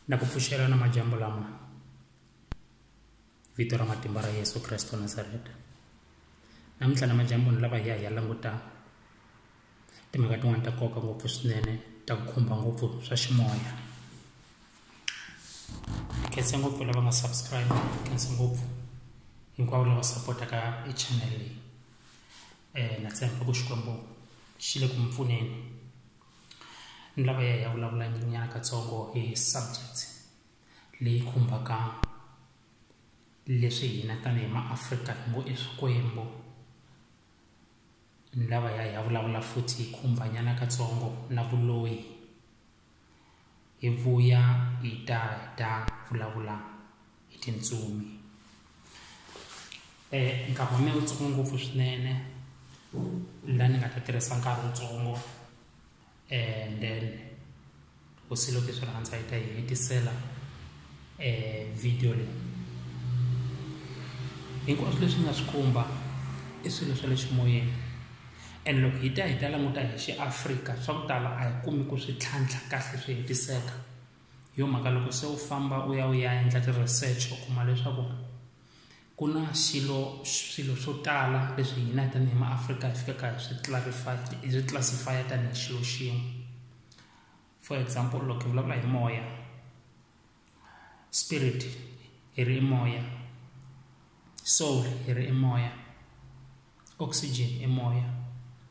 na ku pfuxela na majambu lama vito ra matimba ra yesu kreste wa nazareta namuntlha na majambuni lava hi ya hi ya languta timhaka tin'wana ta nkoka ngopfu swinene ta ku khumba ngopfu swa ximoya khense ngopfu lava nga subscribe khense ngopfu hinkwavo lava sapotaka i channel leyi um na tshemba ku xikwembu xi le ku mi pfuneni ni lava ya hi ya vulavula nyana katsongo hi subject leyi khumbaka leswi hina tanihi maafrika hi ngo i swikwembu ni lava ya hi ya vulavula futhi hi khumbanyana katsongo na vuloyi Hi vuya hi ta hi ta vulavula hi tintsumi um eh, nkarhi wa mina wu tsongo ngopfu swinene la ni nga ta tirhisa nkarhi wutsongo and then hosi loko yi swi rhandza yi ta yi hetisela video leyi hinkwaswo leswi nga swi khumba i swilo swa le ximoyeni and loko hi ta hi ta languta hi xiafrika swa ku tala a hi kumi ku swi tlhantlha kahle swi hetiseka hi yo mhaka loko se u famba u ya u ya endla ti-research u kuma leswaku ku na xilo swilo swo tala leswi hina tanihi maafrika hi fikaka hi swi clarify hi swi classify tanihi xilo xin'we for example loko hi vulavula hi moya spirit hi ri i moya soul hi ri i moya oxygen i moya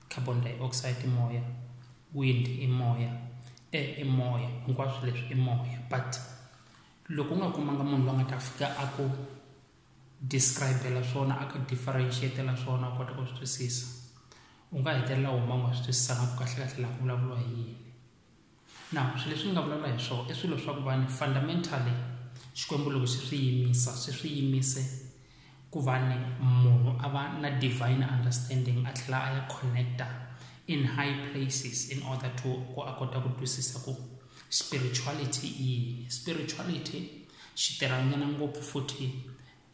carbon dioxide i moya wind i moya air i moya hinkwaswo leswi i moya but loko u nga kumanga munhu loyi a nga ta fika a ku describe-la swona a ku differentiate-la swona u kota ku swi twisisa u nga hetelela huma u nga swi twisisanga ku kahle kahle laha ku vulavuriwa hi yini na swilo leswi ni nga vulavula hi swona i swilo swa ku va ni fundamentally xikwembu loko xi swi yimisa swi swi yimise ku va ni munhu a va na divine understanding a tlhela a ya connecta in high places in order to ku a kota ku twisisa ku spirituality i yini spirituality xi tirhanyana ngopfu futhi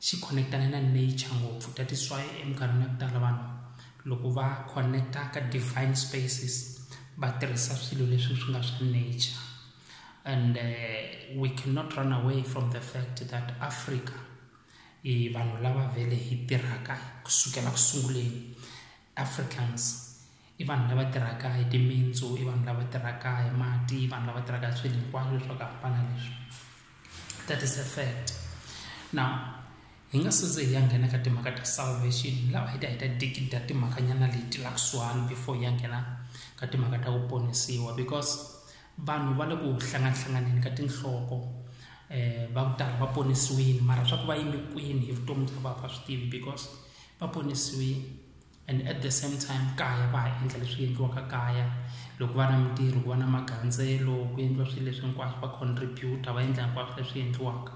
xi connectana na nature ngopfu that is why eminkarhini ya ku tala vanhu loko va connecta ka divine spaces va tirhisa swilo leswi swi nga swa nature and uh, we cannot run away from the fact that africa i vanhu lava vele hi tirhaka kusukela ku sunguleni Africans i vanhu lava tirhaka hi timitsu i vanhu lava tirhaka hi mati i vanhu lava tirhaka hi swilo hinkwaswo leswi swa ku hambana leswi that is a fact now hi nga size hi ya nghena ka timhaka ta salvation hi lava hi ta hi ta dikida timhakanyana leti la kusuhani before hi ya nghena ka timhaka ta ku ponisiwa because vanhu va le ku hlanganihlanganeni ka tinhloko um va ku tala va ponisiwile mara swa ku va yime kwini hi vutomi bya va va swi tivi because va ponisiwile and at the same time kaya va ha endla leswi endliwaka kaya loko va na mintirho ku va na magandzelo ku endliwa swilo leswi hinkwaswo va contributa va endla hinkwaswo leswi endliwaka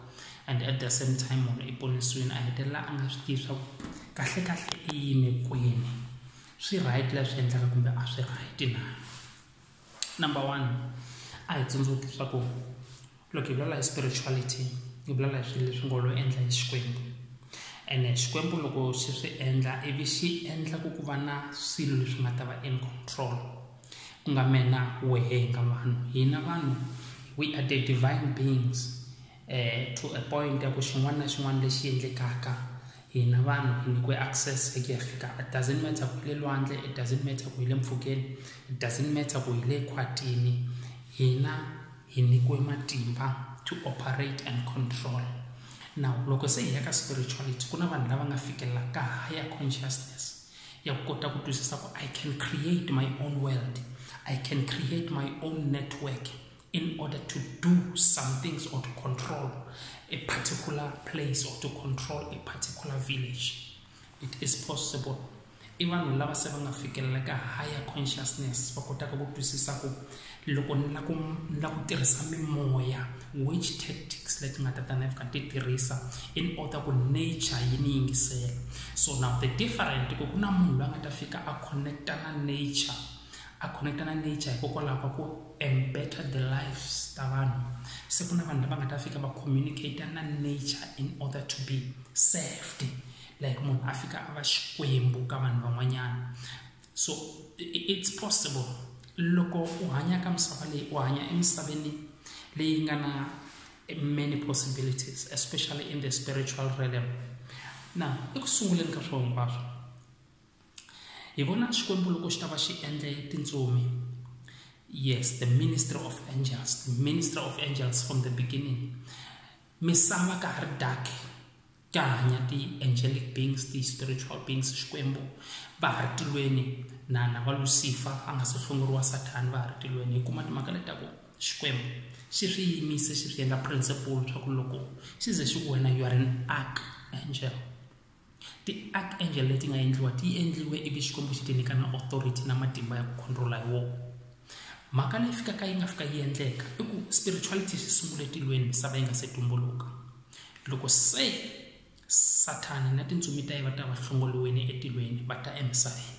and at the same time munhu i ponisiwini a hetelela a nga swi tivi swa ku kahle kahle i yime kwini swi right leswi endlaka kumbe a swi right na number one a hi tsundzuki leswaku loko hi vulavula hi spirituality hi vulavula hi swilo leswi ngo lo endla hi xikwembu ene xikwembu loko xi swi endla ivi xi endla ku ku va na swilo leswi nga ta va in control ku nga mena wehe hi nga vanhu hina vanhu we are the divine beings eh, to a point ya ku xin'wana na xin'wana lexi endlekaka hina vanhu hi nyikiwe access hi ku ya fika it doesn't matter ku hi le lwandle it doesn't matter ku hi le mpfhukeni it doesn't matter ku hi le khwatini hina hi nyikiwe matimba to operate and control now loko se hi ya ka spirituality ku na vanhu lava nga fikelela ka higher consciousness ya ku kota ku twisisa ku i can create my own world i can create my own network in order to do some things or to control a particular place or to control a particular village it is possible i vanhu lava se va nga fikelela ka higher consciousness va kotaka ku twisisa ku loko ni la ku ni la ku tirhisa mimoya which tactics leti nga ta ta ni fika ti tirhisa in order ku nature yi ni yingisela so now the different ku ku na munhu loyi a nga ta fika a connecta na nature a connecta na nature hikokwalaho ka ku embetter the lives ta vanhu se ku na vanhu lava nga ta fika va communicate na nature in order to be saved like munhu a fika a va xikwembu ka vanhu van'wanyana so it's possible loko u hanya ka misava leyi u hanya emisaveni leyi nga na many possibilities especially in the spiritual realm na eku sunguleni ka swilo hinkwaswo hi vona xikwembu loko xi ta va xi endle tintsumi yes the ministry of angels the ministry of angels from the beginning misava ka ha ri dark ka hanya ti-angelic beings ti-spiritual beings xikwembu va ha ri tilweni na na va lucifer a nga se hlongoriwa sathani va ha ri tilweni hi kuma timhaka leti ta ku xikwembu xi swi yimise xi swi endla principle swa ku loko xi ze xi ku wena you are an ark angel Ti-archangel leti nga endliwa ti endliwe ivi Xikwembu xi ti nyika na authority na matimba ya ku controla hi wona. Mhaka leyi fikaka yi nga fika yi endleka i ku spirituality xi sungule tilweni misava yi nga se tumbuluka. Loko se Sathana na tintsumi ta yena va ta va hlongoliwile etilweni va ta emisaveni.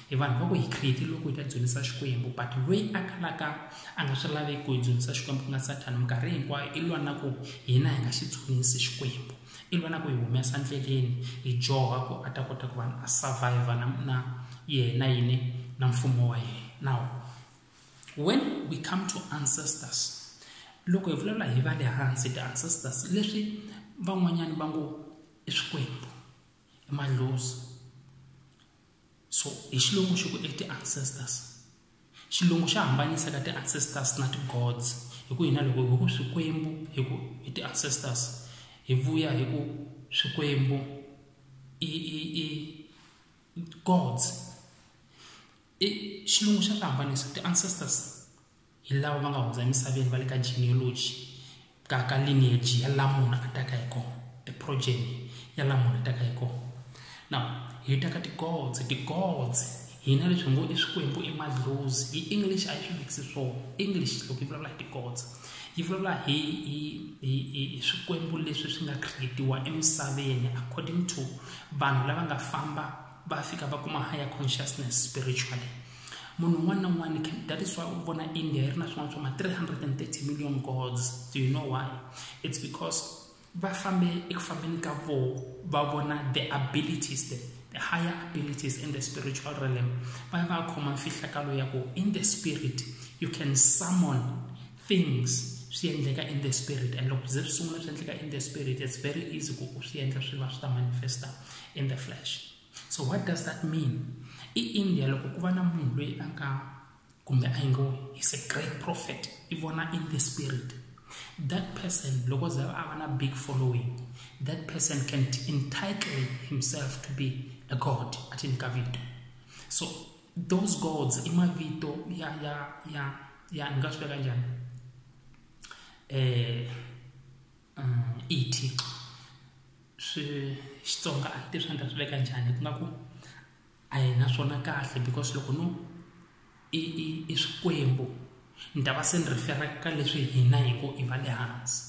hi vanhu va ku hi create loko hi ta dzunisa xikwembu but loyi a kalaka a nga swi laveki ku hi dzunisa xikwembu ku nga sathana minkarhi hinkwayo i lwa na ku hina hi nga xi dzunisi xikwembu i lwa na ku hi humesa ndleleni hi joha ku a ta kota ku vanhu a survive na na yena yini na mfumo wa yena now when we come to ancestors loko hi vulavula hi va le hansi ti-ancestors leswi van'wanyana va ngo i swikwembu i madlozi so hi xilungu xi ku i ti-ancestors xilungu xa hambanyisa ka ti-ancestors na ti-gods hi ku hina loko hi ku swikwembu hi ku i ti-ancestors hi vuya hi ku swikwembu i i i gods i xilungu xa ti hambanisa ti-ancestors hi lava va nga hundza emisaveni va le ka genealogy ka ka lineage ya la munhu a taka hi kona the progeny ya la munhu a taka hi kona now hi ta ka tigods tigods hina leswi ngo i swikwembu i madlozi hi english a yi swi vikisi swo english loko yi vulavula hi tigods yi vulavula hi hi hi hi swikwembu leswi swi nga creatiwa emisaveni according to vanhu lava nga famba va fika va kuma higher consciousness spiritually munhu un'wana na un'wana that is why u vona india yi ri na swin'wana swa ma-330 million gods do you know why it's because va fambe eku fambeni ka vo va vona the abilities the, the higher abilities in the spiritual realm va va khoma mfihlakalo ya ku in the spirit you can summon things swi endleka in the spirit and loko ze swi sungula swi endleka in the spirit it's very easy ku u swi endla swi va swi ta manifesta in the flesh so what does that mean i india loko ku va na munhu loyi a nga kumbe a ngo is a great prophet i vona in the spirit that person loko ze a va na big following that person can entitle himself to be a god athi ni ka vito so those gods i mavito ya ya ya ya ni nga swi veka njhani eh um i thixo swi xitsonga a ti swi nga swi veka njhani ku nga ku a hi na swona kahle because loko no i i i swikwembu ni ta va se ni rifera ka leswi hina hi ku i va le hansi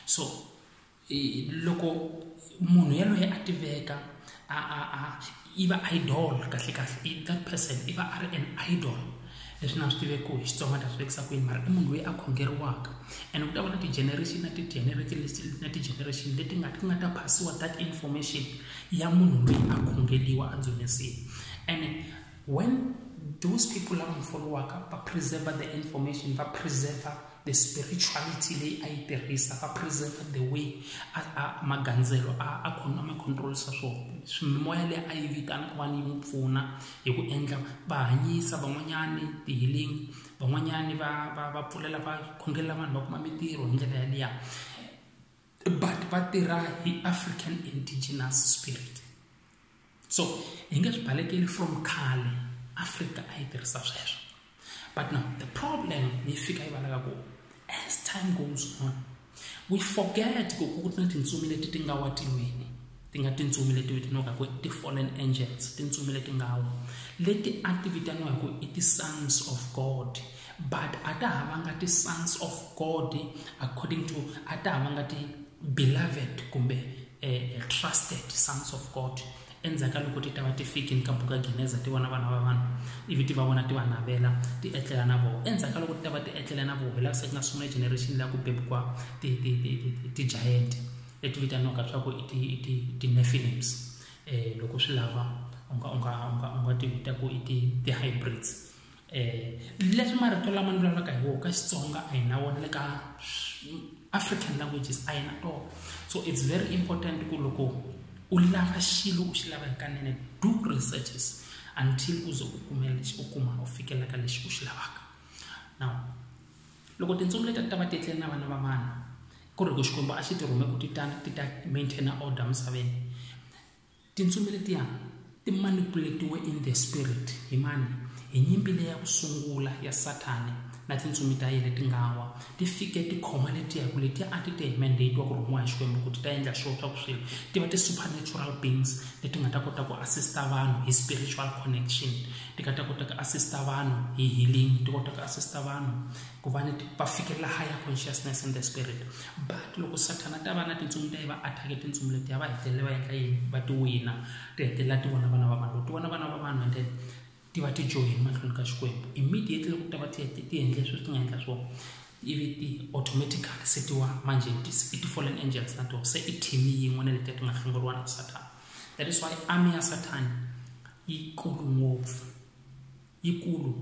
so loko munhu yaloye a tiveka a a a i va idol kahle kahle that person i va a ri an idol leswi na swi tiveki hi xitsonga ni ta swi vekisa kwini mara i munhu loyi a khongeriwaka and ku ta va na ti-generation na ti-generation na ti-generation leti nga ti nga ta phasiwa that information ya munhu loyi a khongeriwa a dzunisiwa and When those people lava n'wi folowaka va preserva the information va preserva the spirituality leyi a yi tirhisa va preserva the way a, a magandzelo a a khona ma controlisa swona swimimoya leyi a yi vitana ku va ni yi n'wi pfuna hi ku endla va hanyisa van'wanyani ti-healing van'wanyani va va va pfulela va khongelela vanhu va kuma mintirho hi ndlela yaliya but va tirha hi african indigenous spirit so hi nge swi balekeli from khale afrika a yi tirhisa sweswo but now the problem yi fika yi valaka ku as time goes on we forget ku ku na tintsumi leti ti nga wa tiwini ti nga tintsumi leti vitaniwaka ku ti fallen angels tintsumi leti nga wa leti a ti vitaniwa hi ku i ti-sons of god but a ta havanga ti-sons of god according to a ta havanga ti-beloved kumbe eh, trusted sons of god endzhaku ka loko ti ta va ti fikini ka buka geneza ti vona vana va vanhu ivi ti va vona ti va navela ti etlela na voho endzhaku ka loko ti ta va ti etlela na voho hi laha se ku nga sungula generation leyi ku bebukwa ti-giant leti vitaniwaka swa ku ti-nefilims um loko swi lava u nga u nga u nga u nga ti vita ku i ti-hybrids eh leswi marito lama ni vulavulaka hi wona ka Xitsonga a hi na wona le ka African languages a hi na tona so it's very important ku loko u lava xilo u xi lava hikanene do researches until u ze u kume lexi u kuma u fikela ka lexi u xi lavaka now loko tintsumi leti ta va ti tlele na vana va vanhu ku ri ku xikwembu a xi ti rhume ku ti ta ti ta maintainer order misaveni Tintsumi letiya ti manipuletiwe in the spirit hi mani hi nyimpi leya ku sungula ya sathane na tintsumi ta yena ti nga wa ti fike ti khoma letiya ku letiya a ti te hi mandate wa ku rhumiwa hi xikwembu ku ti ta endla swilo swa ku swilo ti va ti-supernatural beings leti nga ta kota ku assista vanhu hi spiritual connection ti nga ta kota ku assista vanhu hi healing ti kota ku assista vanhu ku va ni va fikelela higher consciousness in the spirit but loko sathana ta va na tintsumi ta yi va attack tintsumi letiya va hetelela va endla yini va ti wina ti hetelela ti vona vana va vanhu loko ti vona vana va vanhu and then ti va ti joyini mahlweni ka xikwembu immediately loko ta va ti hete ti endle sweswi ti nga endla swona ivi ti automatically se ti wa manje i ti-fallen angels na tona se i team yin'we na letiya ti nga hlongoriwa na sathana that is why army ya sathana yi kulu ngopfu yikulu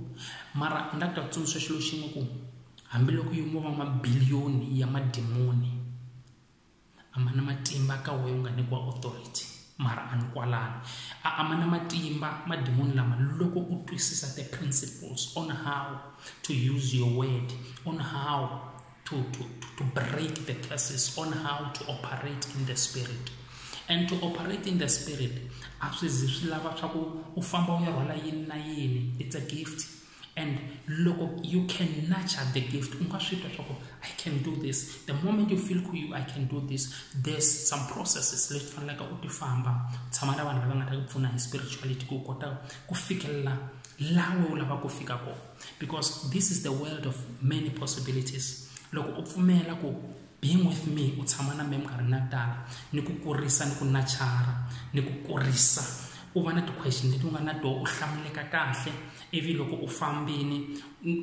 mara u nga ta tsundzuxa xilo xin'we ku hambiloko yo mo va mabiliyoni ya madimoni a ma na matimba ka wehe u nga nyikiwa authority mara a ni kwalano a a ma na matimba madimoni lama loko u twisisa the principles on how to use your word on how to, to, to break the curses on how to operate in the spirit and to operate in the spirit a swi zi swi lava swa ku u famba u ya rhwala yini na yini it's a gift and loko you can nurture the gift u nga swi twa swa ku i can do this the moment you feel ku you i can do this there's some processes leti faneleke u ti famba tshama na vanhu lava nga ta ku pfuna hi spirituality ku kota ku fikelela laha we u lava ku fika kona because this is the world of many possibilities loko u pfumela ku being with me u tshama na me minkarhi na tala ni ku kurisa ni ku nachara ni ku kurisa u va na ti-question leti u nga na toho u hlamuleka kahle ivi loko u fambini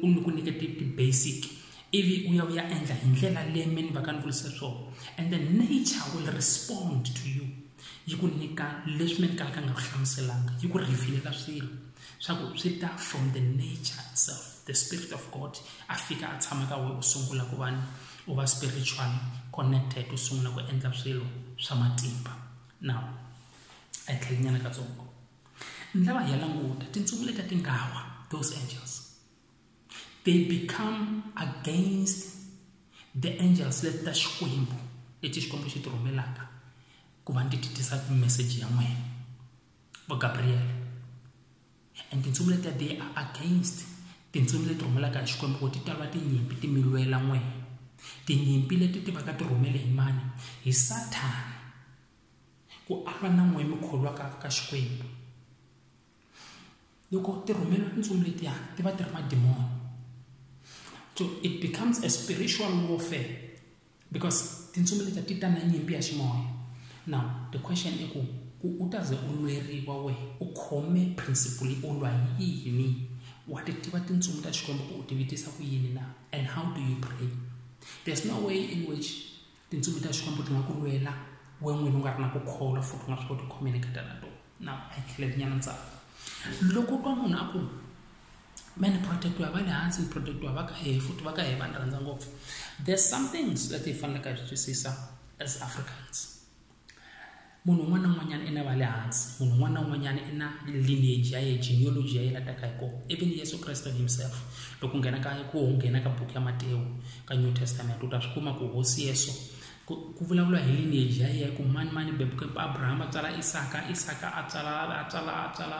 u ni ku nyikete ti-basic ivi u ya u ya endla hi ndlela leyi me ni va ka ni vulise swona and the nature will respond to you yi ku nyika leswi mi kalaka nga ku hlamuselanga yi ku revealela swilo swa ku swi ta from the nature itself the spirit of god a fika a tshama ka wena u sungula ku va ni u va spiritually connected u sungula ku endla swilo swa matimba now a yi tlhelinyana katsongo ni lava hi ya languta tintsumi leti ti nga wa those angels they become against the angels leti ta xikwembu leti xikwembu xi ti rhumelaka ku va ndzi ti tisa meseji ya n'wina va gabriel and tintsumi letiya they are against tintsumi leti rhumelaka hi xikwembu ku ti talwa tinyimpi ti mi lwela n'wina tinyimpi leti ti va ka ti rhumele hi mani hi sathana ku alwa na n'wina mi kholwaka ka xikwembu loko ti rhumela tintsumi letiya ti va ti ri madimoni so it becomes a spiritual warfare because tintsumi letiya ti ta na nyimpi ya ximoya now the question i ku ku u ta ze u lweriwa wehe u khome principle u lwa hi yini wa ti tiva tintsumi ta xikwembu ku u ti vitisa ku yini na and how do you pray there's no way in which tintsumi ta xikwembu ti nga ku lwela we n'wini u nga ri na ku kholwa futhi u nga swi koti ku khomeni eka tona tona na a yi tlheleli nyana ntsako loko twa munhu a ku mani protect wa va le hansi ni protect wa va ka hehe futhi va ka hehe va ni rhandza ngopfu there's some things leti hi faneleke hi swi twisisa as africans munhu un'wana na un'wanyana i na va le hansi munhu un'wana na un'wanyana i na lineage ya ye genealogy ya yena taka hi kona even yesu kreste himself loko u nghena ka ku nghena ka buku ya matewu ka new testament u ta swi kuma ku hosi yesu ku vulavula hi lineage ya yena ku mani mani bebuke abrahama a tswala isaka isaka a tswala a tswala a tswala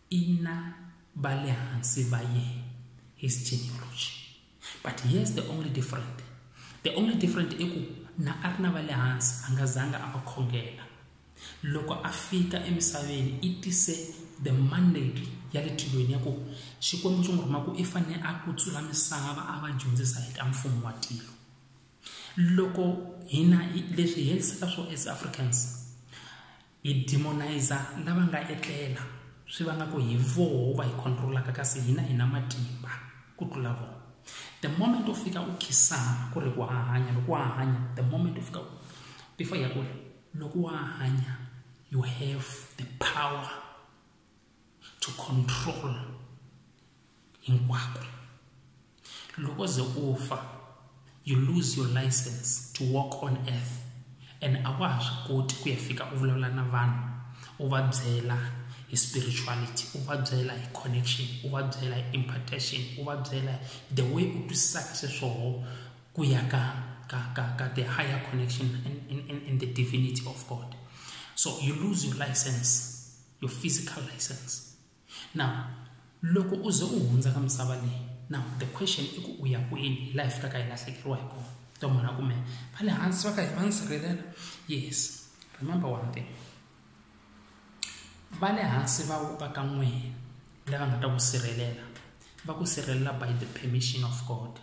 ina va le hansi va yena his genealogy but here's the only different the only different i ku na a ri na va le hansi a nga zanga a va khongela loko a fika emisaveni i tise the mandate ya le tilweni ya ku xikwembu xi n'wi rhuma ku i fanele a kutsula misava a va dyondzisa hi ta mfumo wa tilo loko hina leswi hi helisaka swo as africans hi demonizer lava nga etlela swi vanga ku hi voho va hi controlaka kasi hina hi na matimba ku tlula vona the moment u fika u khisana ku ri ku hahanya loko wa hanya the moment u fika before ya ku ri loko wa hanya you have the power to control hinkwako loko ze u fa you lose your license to walk on earth and a wa ha swi koti ku ya fika u vulavula na vanhu u va byela hi spirituality u va byela hi connection u va byela hi impartation u va byela the way u twisisaka xiswoho ku ya ka ka ka ka the higher connection in, in, in the divinity of god so you lose your license your physical license now loko u ze u hundza ka misava leyi now the question i ku u ya kwini hi laha hi fikaka hi lahlekeriwa hi kona to munhu a kumeka va le hansi va ka hi va ni sirhelela yes remember one thing va le hansi va va ka n'wina lava nga ta ku sirhelela va ku sirhelela by the permission of god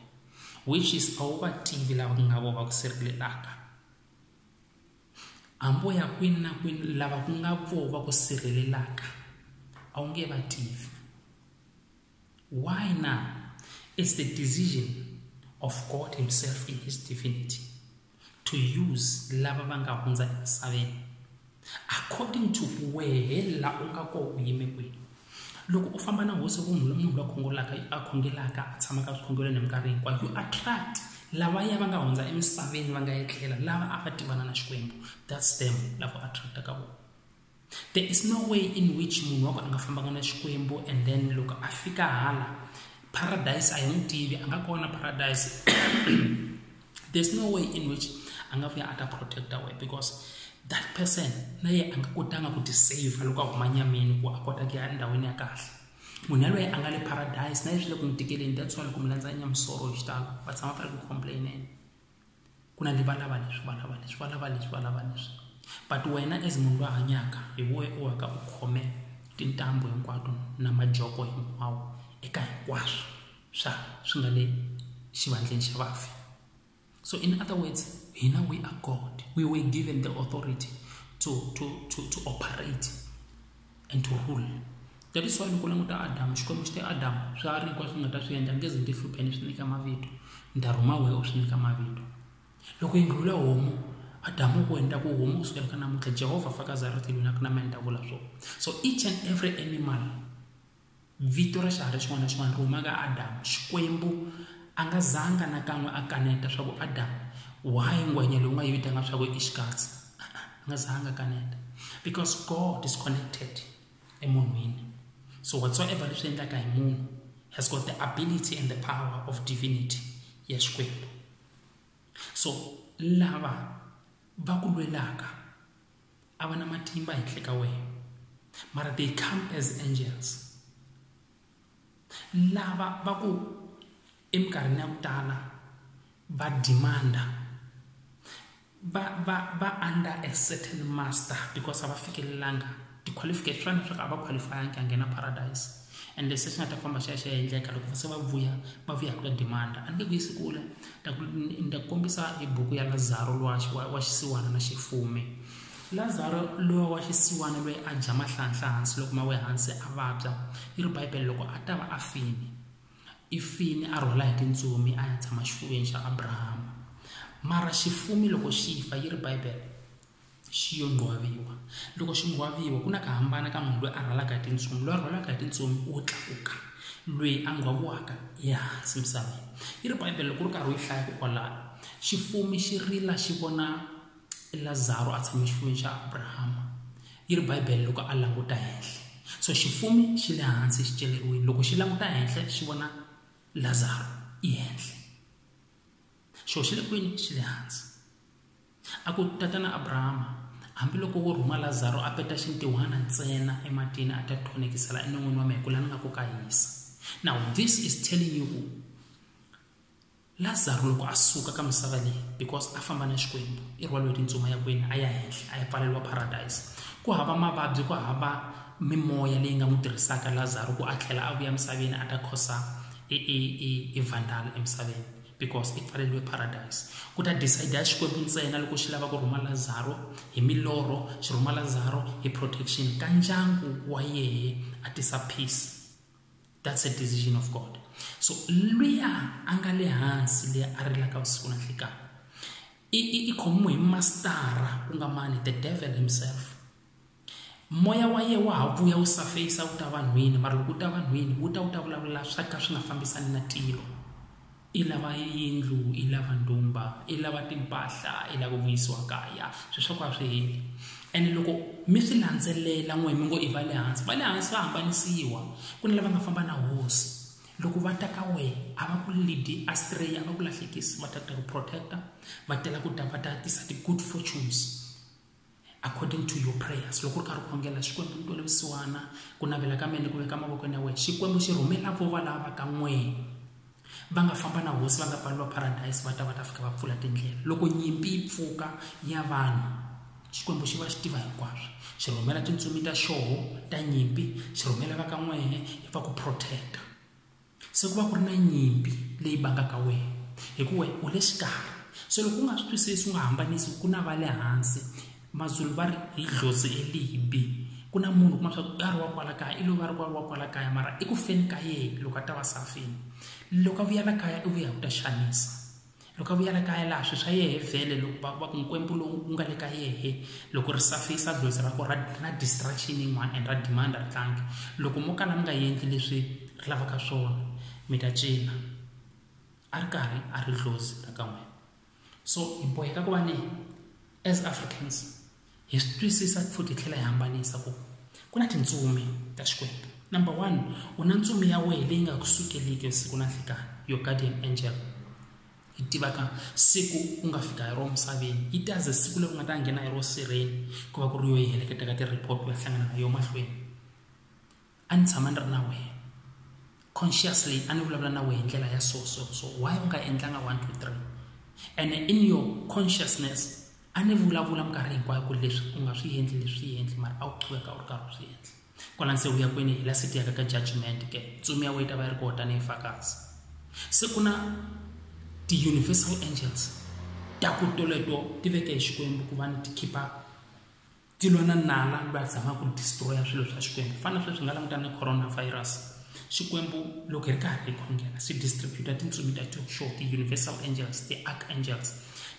which is a wu va tivi lava ku nga vo va ku sirhelelaka hambo ya kwini na kwini lava ku nga vo va ku sirhelelaka a wu nge va tivi why now it's the decision of god himself in his divinity to use lava va nga hundza emisaveni according to wehe la u nga ko u yime kwihi loko u famba na hosi ku munhu munhu la khongolaka a khongelaka a tshamaka swikhongelweni hi minkarhi hinkwayo you attract lava ya va nga hundza emisaveni va nga etlela lava a va tivana na xikwembu that's them lavo attract ka vona there is no way in which munhu wa ku a nga fambanga na xikwembu and then loko a fika hala paradise a hi n'wi tivi a nga kona paradise there's no way in which a nga vuya a ta protecta wena because that person na ye a nga kotanga ku tisave loko a huma nyameni ku a kota ku ya endhawini ya kahle munhu yaloye a nga le paradise na ye swi le ku n'wi tikeleni that's why loko mi landza nyamusoro hi xitalo va tshama va ri ku complaineni ku na leswi valava leswi valava leswi valava leswi valava leswi but wena as munhu loyi hanyaka hi woye u waka u khome tintambu hinkwato na majoko hinkwawo eka hinkwaswo swa swi nga le xivandleni xa vafi so in other words hina we are god we were given the authority to, to, to, to operate and to rule that is why loko languta adamu xikwembu xi te adamu swa ri hinkwaswo swi nga ta swi endla ngeze ni ti hlupheni swi nyika mavito ni ta rhuma wehe u swi nyika mavito loko yi ndlula homu adamu ku endla ku homu kusukela ka namuntlha jehovha fakazi a ri tilwini a ku na mina ni ta vula swona so each and every animal Vito ra xiharhi xin'wana na xin'wana ri huma ka Adamu. Xikwembu a nga zanga na kan'we a kaneta swa ku Adamu why ngwenya leyi u nga yi vitana swa ku i xikatsi a-a a nga zanga a kaneta because God is connected emunhwini so whatsoever leswi endlaka hi munhu has got the ability and the power of divinity ya Xikwembu so lava va ku lwelaka a va na matimba henhla ka wena mara they come as angels lava va ku eminkarhini ya ku tala va demanda va va va under a certain master because a va fikelelanga ti-qualification swa leswaku a va qualify-angi a nghena paradise and leswi swi nga ta famba xi ya xi ya endleka loko se va vuya va vuya hi ku ta demanda a ni nge ku yisi kule ni ta kombisa hi buku ya lazaro lowa wa xisiwana na xifume lazaro lowa wa xisiwana loyi a dya mahlanhla hansi loko ma we hansi a vabya yi ri bibele loko a ta va a fini i fini a rhwala hi tintsumi a ya tshama xifuveni xa abrahama mara xifume loko xi fa yi ri bibele xi yo ngwaviwa loko xi ngwaviwa ku na ka hambana ka munhu loyi a rhwalaka hi tintsumi loyi a rhwalaka hi tintsumi wo tlakuka loyi a ngwaviwaka ehansi misaveni yi ri bibele loko ri karhi u yi hlaya kokwalaho xifumi xi rila xi vona lazaro a tshame xifumeni xa abrahama yi ri bibele loko a languta henhla so xifumi xi le hansi xi celeriwile loko xi languta henhla xi vona lazaro i henhla xo xi le kwini xi le hansi a ku tatana abrahama hambiloko wo rhuma lazaro a peta xintiwana ntsena ematini a ta thonekisela enon'wini wa mina ku la ni nga ku ka hisa now this is telling you ku lazaro loko a suka ka misava leyi because a famba na xikwembu i rhwaliwe tintsuma ya kwini a ya henhla a ya pfaleriwa paradise ku hava mavabyi ku hava mimoya leyi nga n'wi tirhisaka lazaro ku a tlhela a vuya emisaveni a ta khosa evandala emisaveni because i pfaleliwe paradise ku ta decide ya xikwembu ntsena loko xi lava ku rhuma lazaro hi milorho xi rhuma lazaro hi protection ka ndyangu wa yehe a tisa peace that's a decision of god so luya a nga le hansi leyi a rilaka vusiku na nhlikana i khomiwe hi mastara ku nga mani the devil himself moya wa yena wa ha vuya wu safeyisa wu ta vanhwini mara loko wu ta vanhwini wu ta wu ta vulavula swa ka swi nga fambisani na tilo i lava yindlu i lava ndhumba i lava timpahla i lava ku vuyisiwa kaya swi swa ku a swi heli ene loko mi swi landzelela n'we mi ngo i va le hansi va le hansi va hambanisiwa ku na lava nga famba na hosi loko va ta ka wena a va ku lidi astray a va ku lahlekisi va ta ta ku protector va tela ku ta va ta tisa ti-good fortunes according to your prayers loko u ri karhi u khongela xikwembu ni twele vusiwana ku navela ka mina kumbe ka mavokweni ya wena xikwembu xi rhumela vo valava ka n'we va nga famba na hosi va nga pfali va paradise va ta va ta fika va pfula tindlela loko nyimpi yi pfuka ya vanhu xikwembu xi va xi tiva hinkwaswo xi rhumela tintsumi ta xoho ta nyimpi xi rhumela va ka n'wehe va ku protect-a se ku va ku ri na nyimpi leyi bangaka wena hikuva u le xikarhi se loko u nga swi twisisi u nga hambanisi ku na va le hansi mazulu va ri hi dlhozi elibi ku na munhu kuma swa ku a ri wa kwala kaya i lo va ri kwala wa kwala kaya mara i ku feni ka yena loko a ta va safini loko a vuyela kaya i vuya ku ta xanisa loko a vuya le kaya laha swi swa yehe vhele loko va va ku nkwempu lowu wu nga le ka yehe loko ri safisa dlozi ra ko ra ra distraction yin'wana and ra demand ri tlangi loko mo kala mi nga endli leswi ri lavaka swona mi ta cina a ri karhi a ri dlozi ra ka n'wina so hi boheka ku va ni as africans hi swi twisisa futhi hi tlhela hi hambanisa ku ku na tintsumi ta xikwembu number one u na ntsumi ya wena leyi nga ku sukeliki siku na nhlikani your guardian angel yi tivaka siku u nga fika hi ro misaveni yi ta ze siku leri u nga ta nghena hi ro sirheni ku va ku ri yo yi heleketa ka ti-report u ya hlangana na yo mahlweni a ni tshama ni ri na wena consciously a ni vulavula na wena hi ndlela ya so so so why u nga endlanga 1 2 3 and in your consciousness a ni vulavula minkarhi hinkwayo ku leswi u nga swi endli leswi swi endli mara a wu qhuveka u ri karhi u swi endla kwala se u ya kwini hi la siti yaka ka judgment ke ntsumi ya wena yi ta va yi ri kona tanihi fakazi se ku na ti-universal angels ta ku toleto ti veke hi xikwembu ku va ni ti-keeper ti lwa na nala va zama ku destroya swilo swa xikwembu ku fana na sweswi nga langutana na coronavirus xikwembu loko hi ri karhi hi khongela swi distributa tintsumi ta joxo ti-universal angels ti-arc angels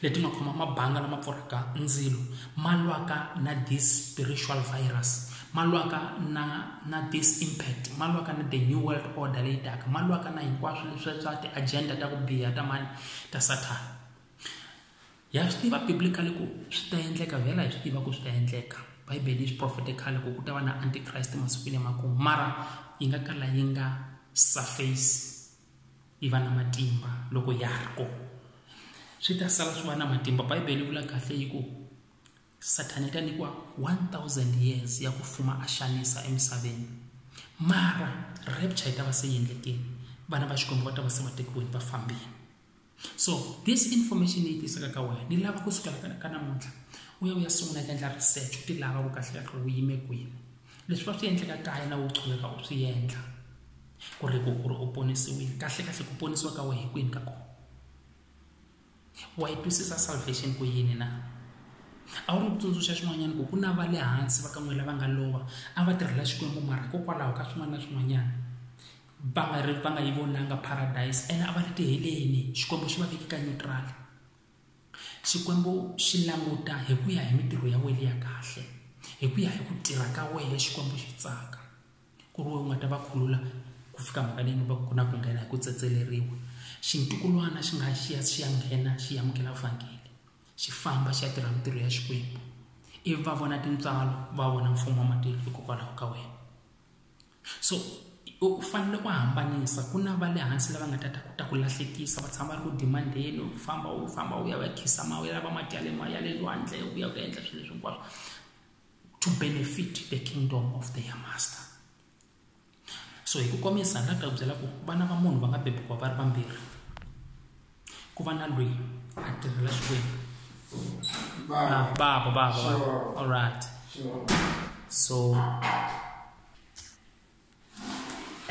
leti nga khoma mabanga lama pfurhaka ndzilo ma lwaka na this spiritual virus ma lwaka na na this impact ma lwaka na the new world order leyi taka ma lwaka na hinkwaswo leswi swa ti-agenda ta ku biha ta mani ta sathana ha swi tiva biblically ku swi ta endleka vhela hi swi tiva ku swi ta endleka bibele yi swi profete khale ku ku ta va na antichrist masikwini emakumu mara yi nga kala yi nga surface yi va na matimba loko ya ri kona swi ta sala swi va na matimba bibele yi vula kahle yi ku sathana yi ta nyikiwa 1000 years ya ku fuma a xanisa emisaveni mara rapture yi ta va se yi endlekile vana va xikwembu va ta va se va tekiweni va fambile so this information leyi tisaka ka wena ni lava ku sukela ka namuntlha u ya u ya sungula ku endla research u ti lava ku kahle kahle u yime kwini leswi va swi endleka kaya na u qhuveka u swi endla ku ri ku ku ri u ponisiwile kahle kahle ku ponisiwa ka wena hi kwini ka kona wa yi twisisa salvation ku yini na a wu ri kutsundzuxa xin'wanyana ku ku na va le hansi va ka n'we lava nga lova a va tirhela xikwembu mara hikokwalaho ka swin'wana na swin'wanyana va nga ri va nga yi vonanga paradise ene a va ri tiheleni xikwembu xi va veke ka neutral xikwembu xi languta hi ku ya hi mitirho ya wena ya kahle hi ku ya hi ku tirha ka wena xikwembu xi tsaka ku ri wena u nga ta va khulula ku fika mhaka leyi va ku na ku nghena hi ku tsetseleriwa xintukulwana xi nga xi ya xi ya nghena xi amukela vhangeli xi famba xi ya tirha mitirho ya xikwembu ivi va vona tintswalo va vona mfumo wa matiko hikokwalaho ka wena so u fanele u hambanisa ku na va le hansi lava nga ta ta ta ku lahlekisa va tshama va ri ku dimandeni u famba u famba u ya va khisa ma u ya lava mati ya le ma ya le lwandle u ya ku endla swilo leswi hinkwaswo to benefit the kingdom of their master so hi ku komisa ni la ku ta ku byela ku vana va munhu va nga bebukiwa va ri vambirhi ku va na lweyi a tirhela xikwembu ah, baba baba baba all right so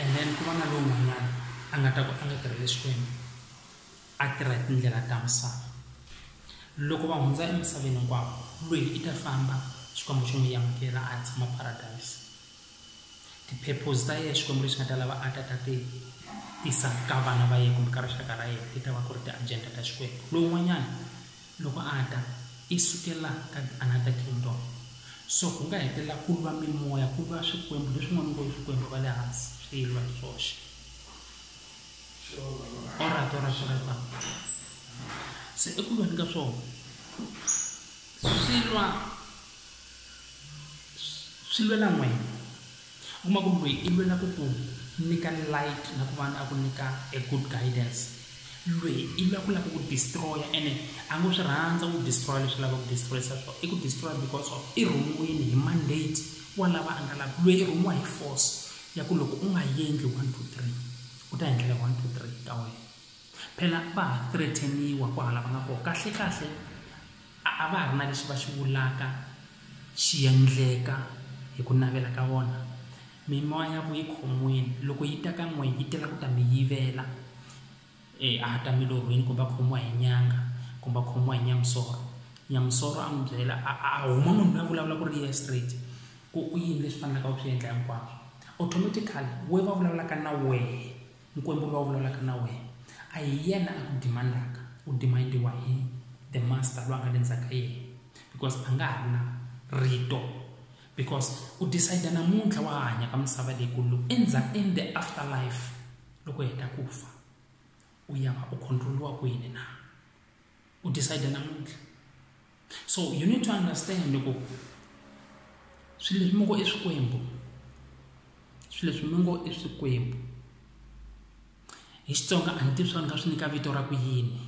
and then ku va na lowun'wanyana a nga ta ku a nga tirhele xikwembu a tirha hi tindlela ta misava loko va hundza emisaveni hinkwavo lweyi i ta famba xikwembu xo n'wi yamukela a tshama paradise Ti-purpose ta yena Xikwembu lexi nga ta lava a ta ta ti tisa ka vana va yena kumbe ka rixaka ra yena ti ta va ku ri ti-agenda ta Xikwembu. Lowun'wanyana loko a ta i sukela ka another kingdom so ku nga hetelela ku lwa mimoya ku lwa swikwembu leswin'wana ngo swikwembu va le hansi swi lwa hi swoxe alright alright alright mama se eku lweni ka swona swi lwa Swi lwela n'wina. U kuma ku lweyi i lwela ku ku nyika light na kun'wana a ku nyika a good guidance lweyi i lwa ku la ku ku destroy-a ene a ngo swi rhandza ku destroy-a leswi lava ku destroy-isa swo i ku destroy because of i rhumiwini hi mandate wa lava a nga la ku lweyi i rhumiwa hi force ya ku loko u nga yendli one two three u ta yendlela one two three ta wena phela va ha threaten-iwa ku hala va nga koho kahlekahle. A a va ha ri na lexi va xi vulaka xi endleka hi ku navela ka vona. Mimoya ya vuyikhon'wini loko yi ta ka n'wina yi tela ku ta mi yivela, e a a ta milorhweni kumbe a khomiwa hi nyanga kumbe a khomiwa hi nyamusoro. Nyamusoro a n'wi byela a a a huma munhu loyi a vulavulaka ku ri yena straight ku i yini leswi fanelaka u swi endla hinkwaswo. Automatically wehe va vulavulaka na wehe. Nkwembu loyi a vulavulaka na wena a hi yena a ku demandaka u demandiwa hi the master loyi a nga le ndzhaku ka yena because a nga ha ri na rito because u decide namuntlha wa ha hanya ka misava leyi ku loko endzhaku in the after life loko hi heta ku fa u ya va u controliwa kwini na u decide namuntlha so you need to understand loko swilo leswi mi ngo i swikwembu swilo leswi mi ngo i swikwembu hi xitsonga a ni tivi swa ni nga swi nyika vito ra ku yini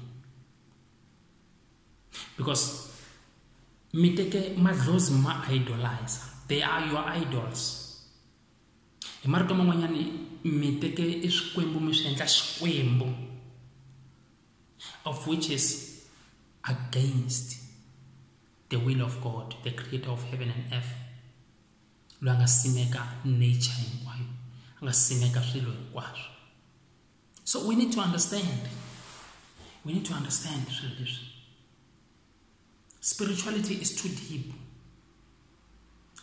because mi teke madlozi ma idolizer they are your idols hi marito man'wanyani mi teke i swikwembu mi swi endla xikwembu of which is against the will of God, the creator of heaven and earth. Loyi nga simeka nature hinkwayo, nga simeka swilo hinkwaswo. So we need to understand. We need to understand swilo leswi. Spirituality is too deep.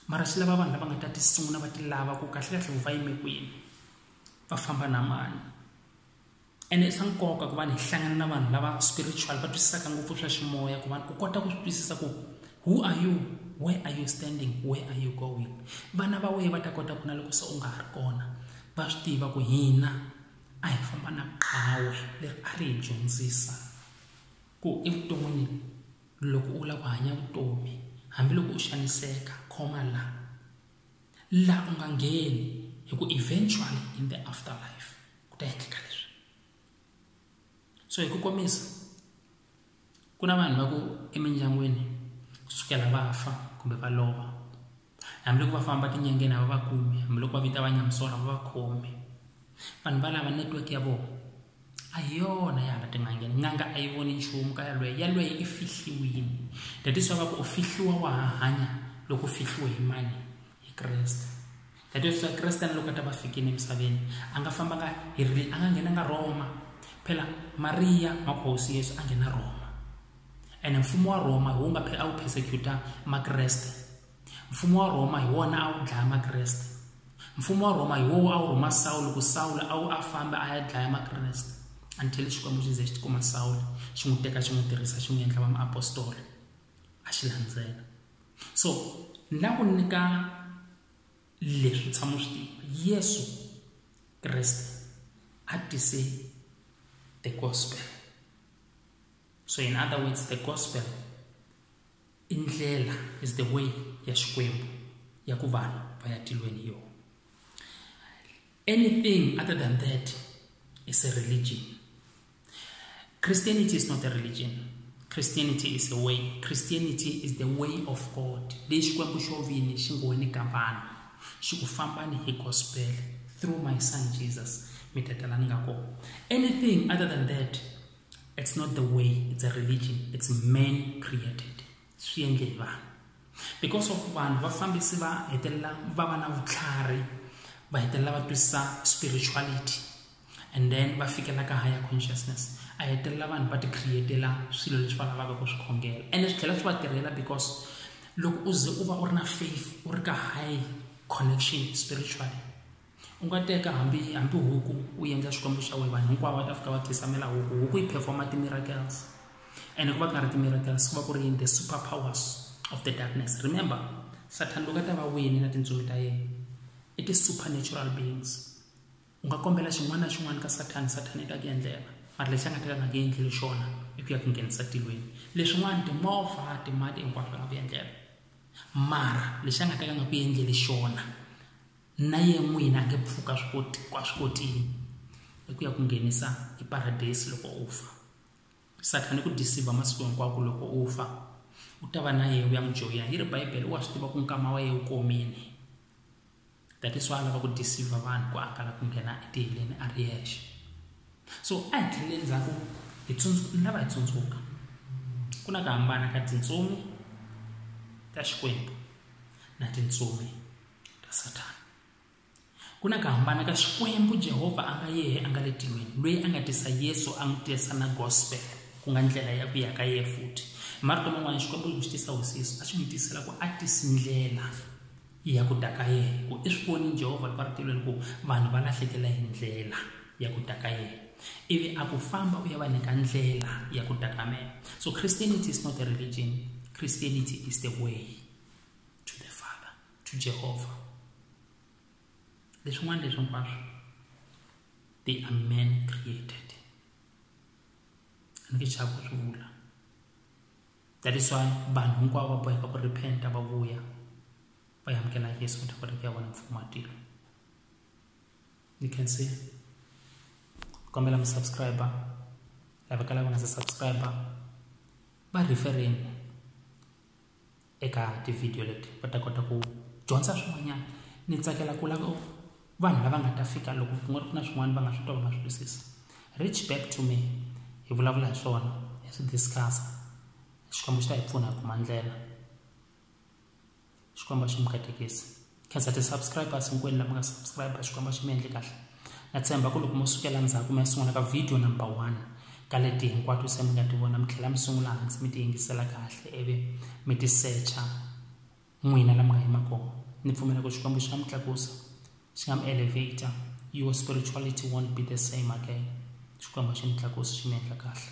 Mara swi lava vanhu lava nga ta tisungula va ti lava ku kahle kahle va yime kwini. Va famba na mani. ene i swa nkoka ku va ni hlangana na vanhu lava spiritual va twisisaka ngopfu swa ximoya ku va u kota ku swi twisisa ku who are you where are you standing where are you going vana va wena va ta kota ku na loko se u nga ha ri kona va swi tiva ku hina a hi famba na qhawe leri a ri hi dyondzisa ku evuton'wini loko u lava ku hanya vutomi hambiloko u xaniseka khoma la la u nga ngheni hi ku eventually in the afterlife ku ta endleka leswi so hi ku komisa ku na vanhu va ku emindyangwini kusukela va fa kumbe va lova hambiloko va famba tinyangeni a va va kumi hambiloko va vita va nyamusora va va khomi vanhu valava network ya vona a hi yona ya hala tin'angeni n'anga a yi voni nchumu ka yalweyo yalweyo i fihliwini thatiswa va ku u fihliwa wa ha hanya loko u fihliwe hi mani hi kreste thatiswa kreste na loko a ta va fikile emisaveni a nga fambanga hi ri a nga nghenanga roma phela mariya makhosi yesu a nghena roma ene mfumo wa roma wu nga a wu persecuta makreste Mfumo wa Rhoma hi wona a wu dlaya Makreste. Mfumo wa Rhoma hi wowo a wu rhuma Sawulo ku Sawulo a wu a fambe a ya dlaya Makreste until Xikwembu xi ze xi tikuma Sawulo xi n'wi teka xi n'wi tirhisa xi n'wi endla va muapostoli a xi landzela so ni la ku nyika leswi tshama swi tiva Yesu Kreste a tise the gospel so in other words the gospel i ndlela is the way ya xikwembu ya ku vanhu va ya tilweni yona anything other than that is a religion christianity is not a religion christianity is a way christianity is the way of god leyi xikwembu xo vini xi ngo ni ka vanhu xi ku fambani hi gospel through my son jesus mi ta tala ni nga kona anything other than that it's not the way it's a religion it's man created swi endle hi vanhu because of vanhu vafambisi va hetelela va va na vutlhari va hetelela va twisisa spirituality and then va fikela ka higher consciousness a hetelela vanhu va ti createla swilo leswi va lavaka ku swi khongela ene swi tlhela swi va tirhela because loko u ze u va u ri na faith u ri ka high connection spiritually u nga teka hambi hambi huku u endla xikwembu xa wena vanhu hinkwavo va ta fika va khisamela huku huku yi performa ti-miracles ene ku va ku nga ri ti-miracles ku va ku ri yini the super powers of the darkness remember sathani loko a ta va wini na tintsumi ta yena i ti-supernatural beings u nga kombela xin'wana na xin'wana ka sathani sathani i ta ku endlela mara lexi a nga ta ka nga ku endleli xona i ku ya ku nghenisa tilweni leswin'wana timovha timali hinkwaswo a nga ku endlela mara lexi a nga ta ka nga ku endleli xona na yena n'wini a nge pfuka swikotini i ku ya ku nghenisa eparadeyisi loko u fa sathana i ku disivha masiku hinkwako loko u fa u ta va na yena u ya n'wi joyina yi ri bibele wa swi tiva ku nkama wa yena u komile that is why a lava ku disivha vanhu ku akala ku nghena etiheleni a ri yexe so a hi tlhelele ndzhaku hi ni lava hi tsundzuka ku na ku hambana ka tintsumi ta xikwembu na tintsumi ta Sathana. Ku na ku hambana ka Xikwembu Jehovha a nga yehe a nga le tilweni, loyi a nga tisa Yesu a n'wi tirhisa na gospel ku nga ndlela ya ku ya ka yehe futhi. Hi marito man'wana Xikwembu loko xi tisa hosi Yesu a xi n'wi tisela ku a tisi ndlela ya ku ta ka yehe ku i swi voni Jehovha loko a ri tilweni ku vanhu va lahlekela hi ndlela ya ku ta ka yehe ivi a ku famba u ya va nyika ndlela ya ku ta ka mehe so christianity is not a religion christianity is the way to the father to jehovah leswin'wana leswi hinkwaswo they are men created ni ke chava ku swi vula that is why vanhu hinkwavo va boheka ku repenta va vuya va yamukela yesu kota kota ku ya vona mfumo wa tilo you can see kombela musubscriber lava ka lava nga se subscriber va refereni eka tivhidiyo leti va ta kota ku dyondza swin'wanyana ni tsakela ku lava vanhu lava nga ta fika loko ku nga ri ku na swin'wana va nga swi twa va nga swi twisisi reach back to me hi vulavula hi swona hi swi discussa xikwembu xi ta hi pfuna hi kuma ndlela xikwembu a xi mi katekisi khensa ti-subscribers hinkwenu lama nga subscribe xikwembu xi mi endle kahle na tshemba ku loko mo sukela ndzhaku mi ya sungula ka video number one ka leti hinkwato se mi nga ti vona mi tlhela mi sungula hansi mi ti yingisela kahle ivi mi ti secha n'wina lama nga yima kona ni pfumela ku xikwembu xi nga mi tlakusa xi nga mi elevator your spirituality won't be the same again xikwembu xi mi tlakusa xi mi endla kahle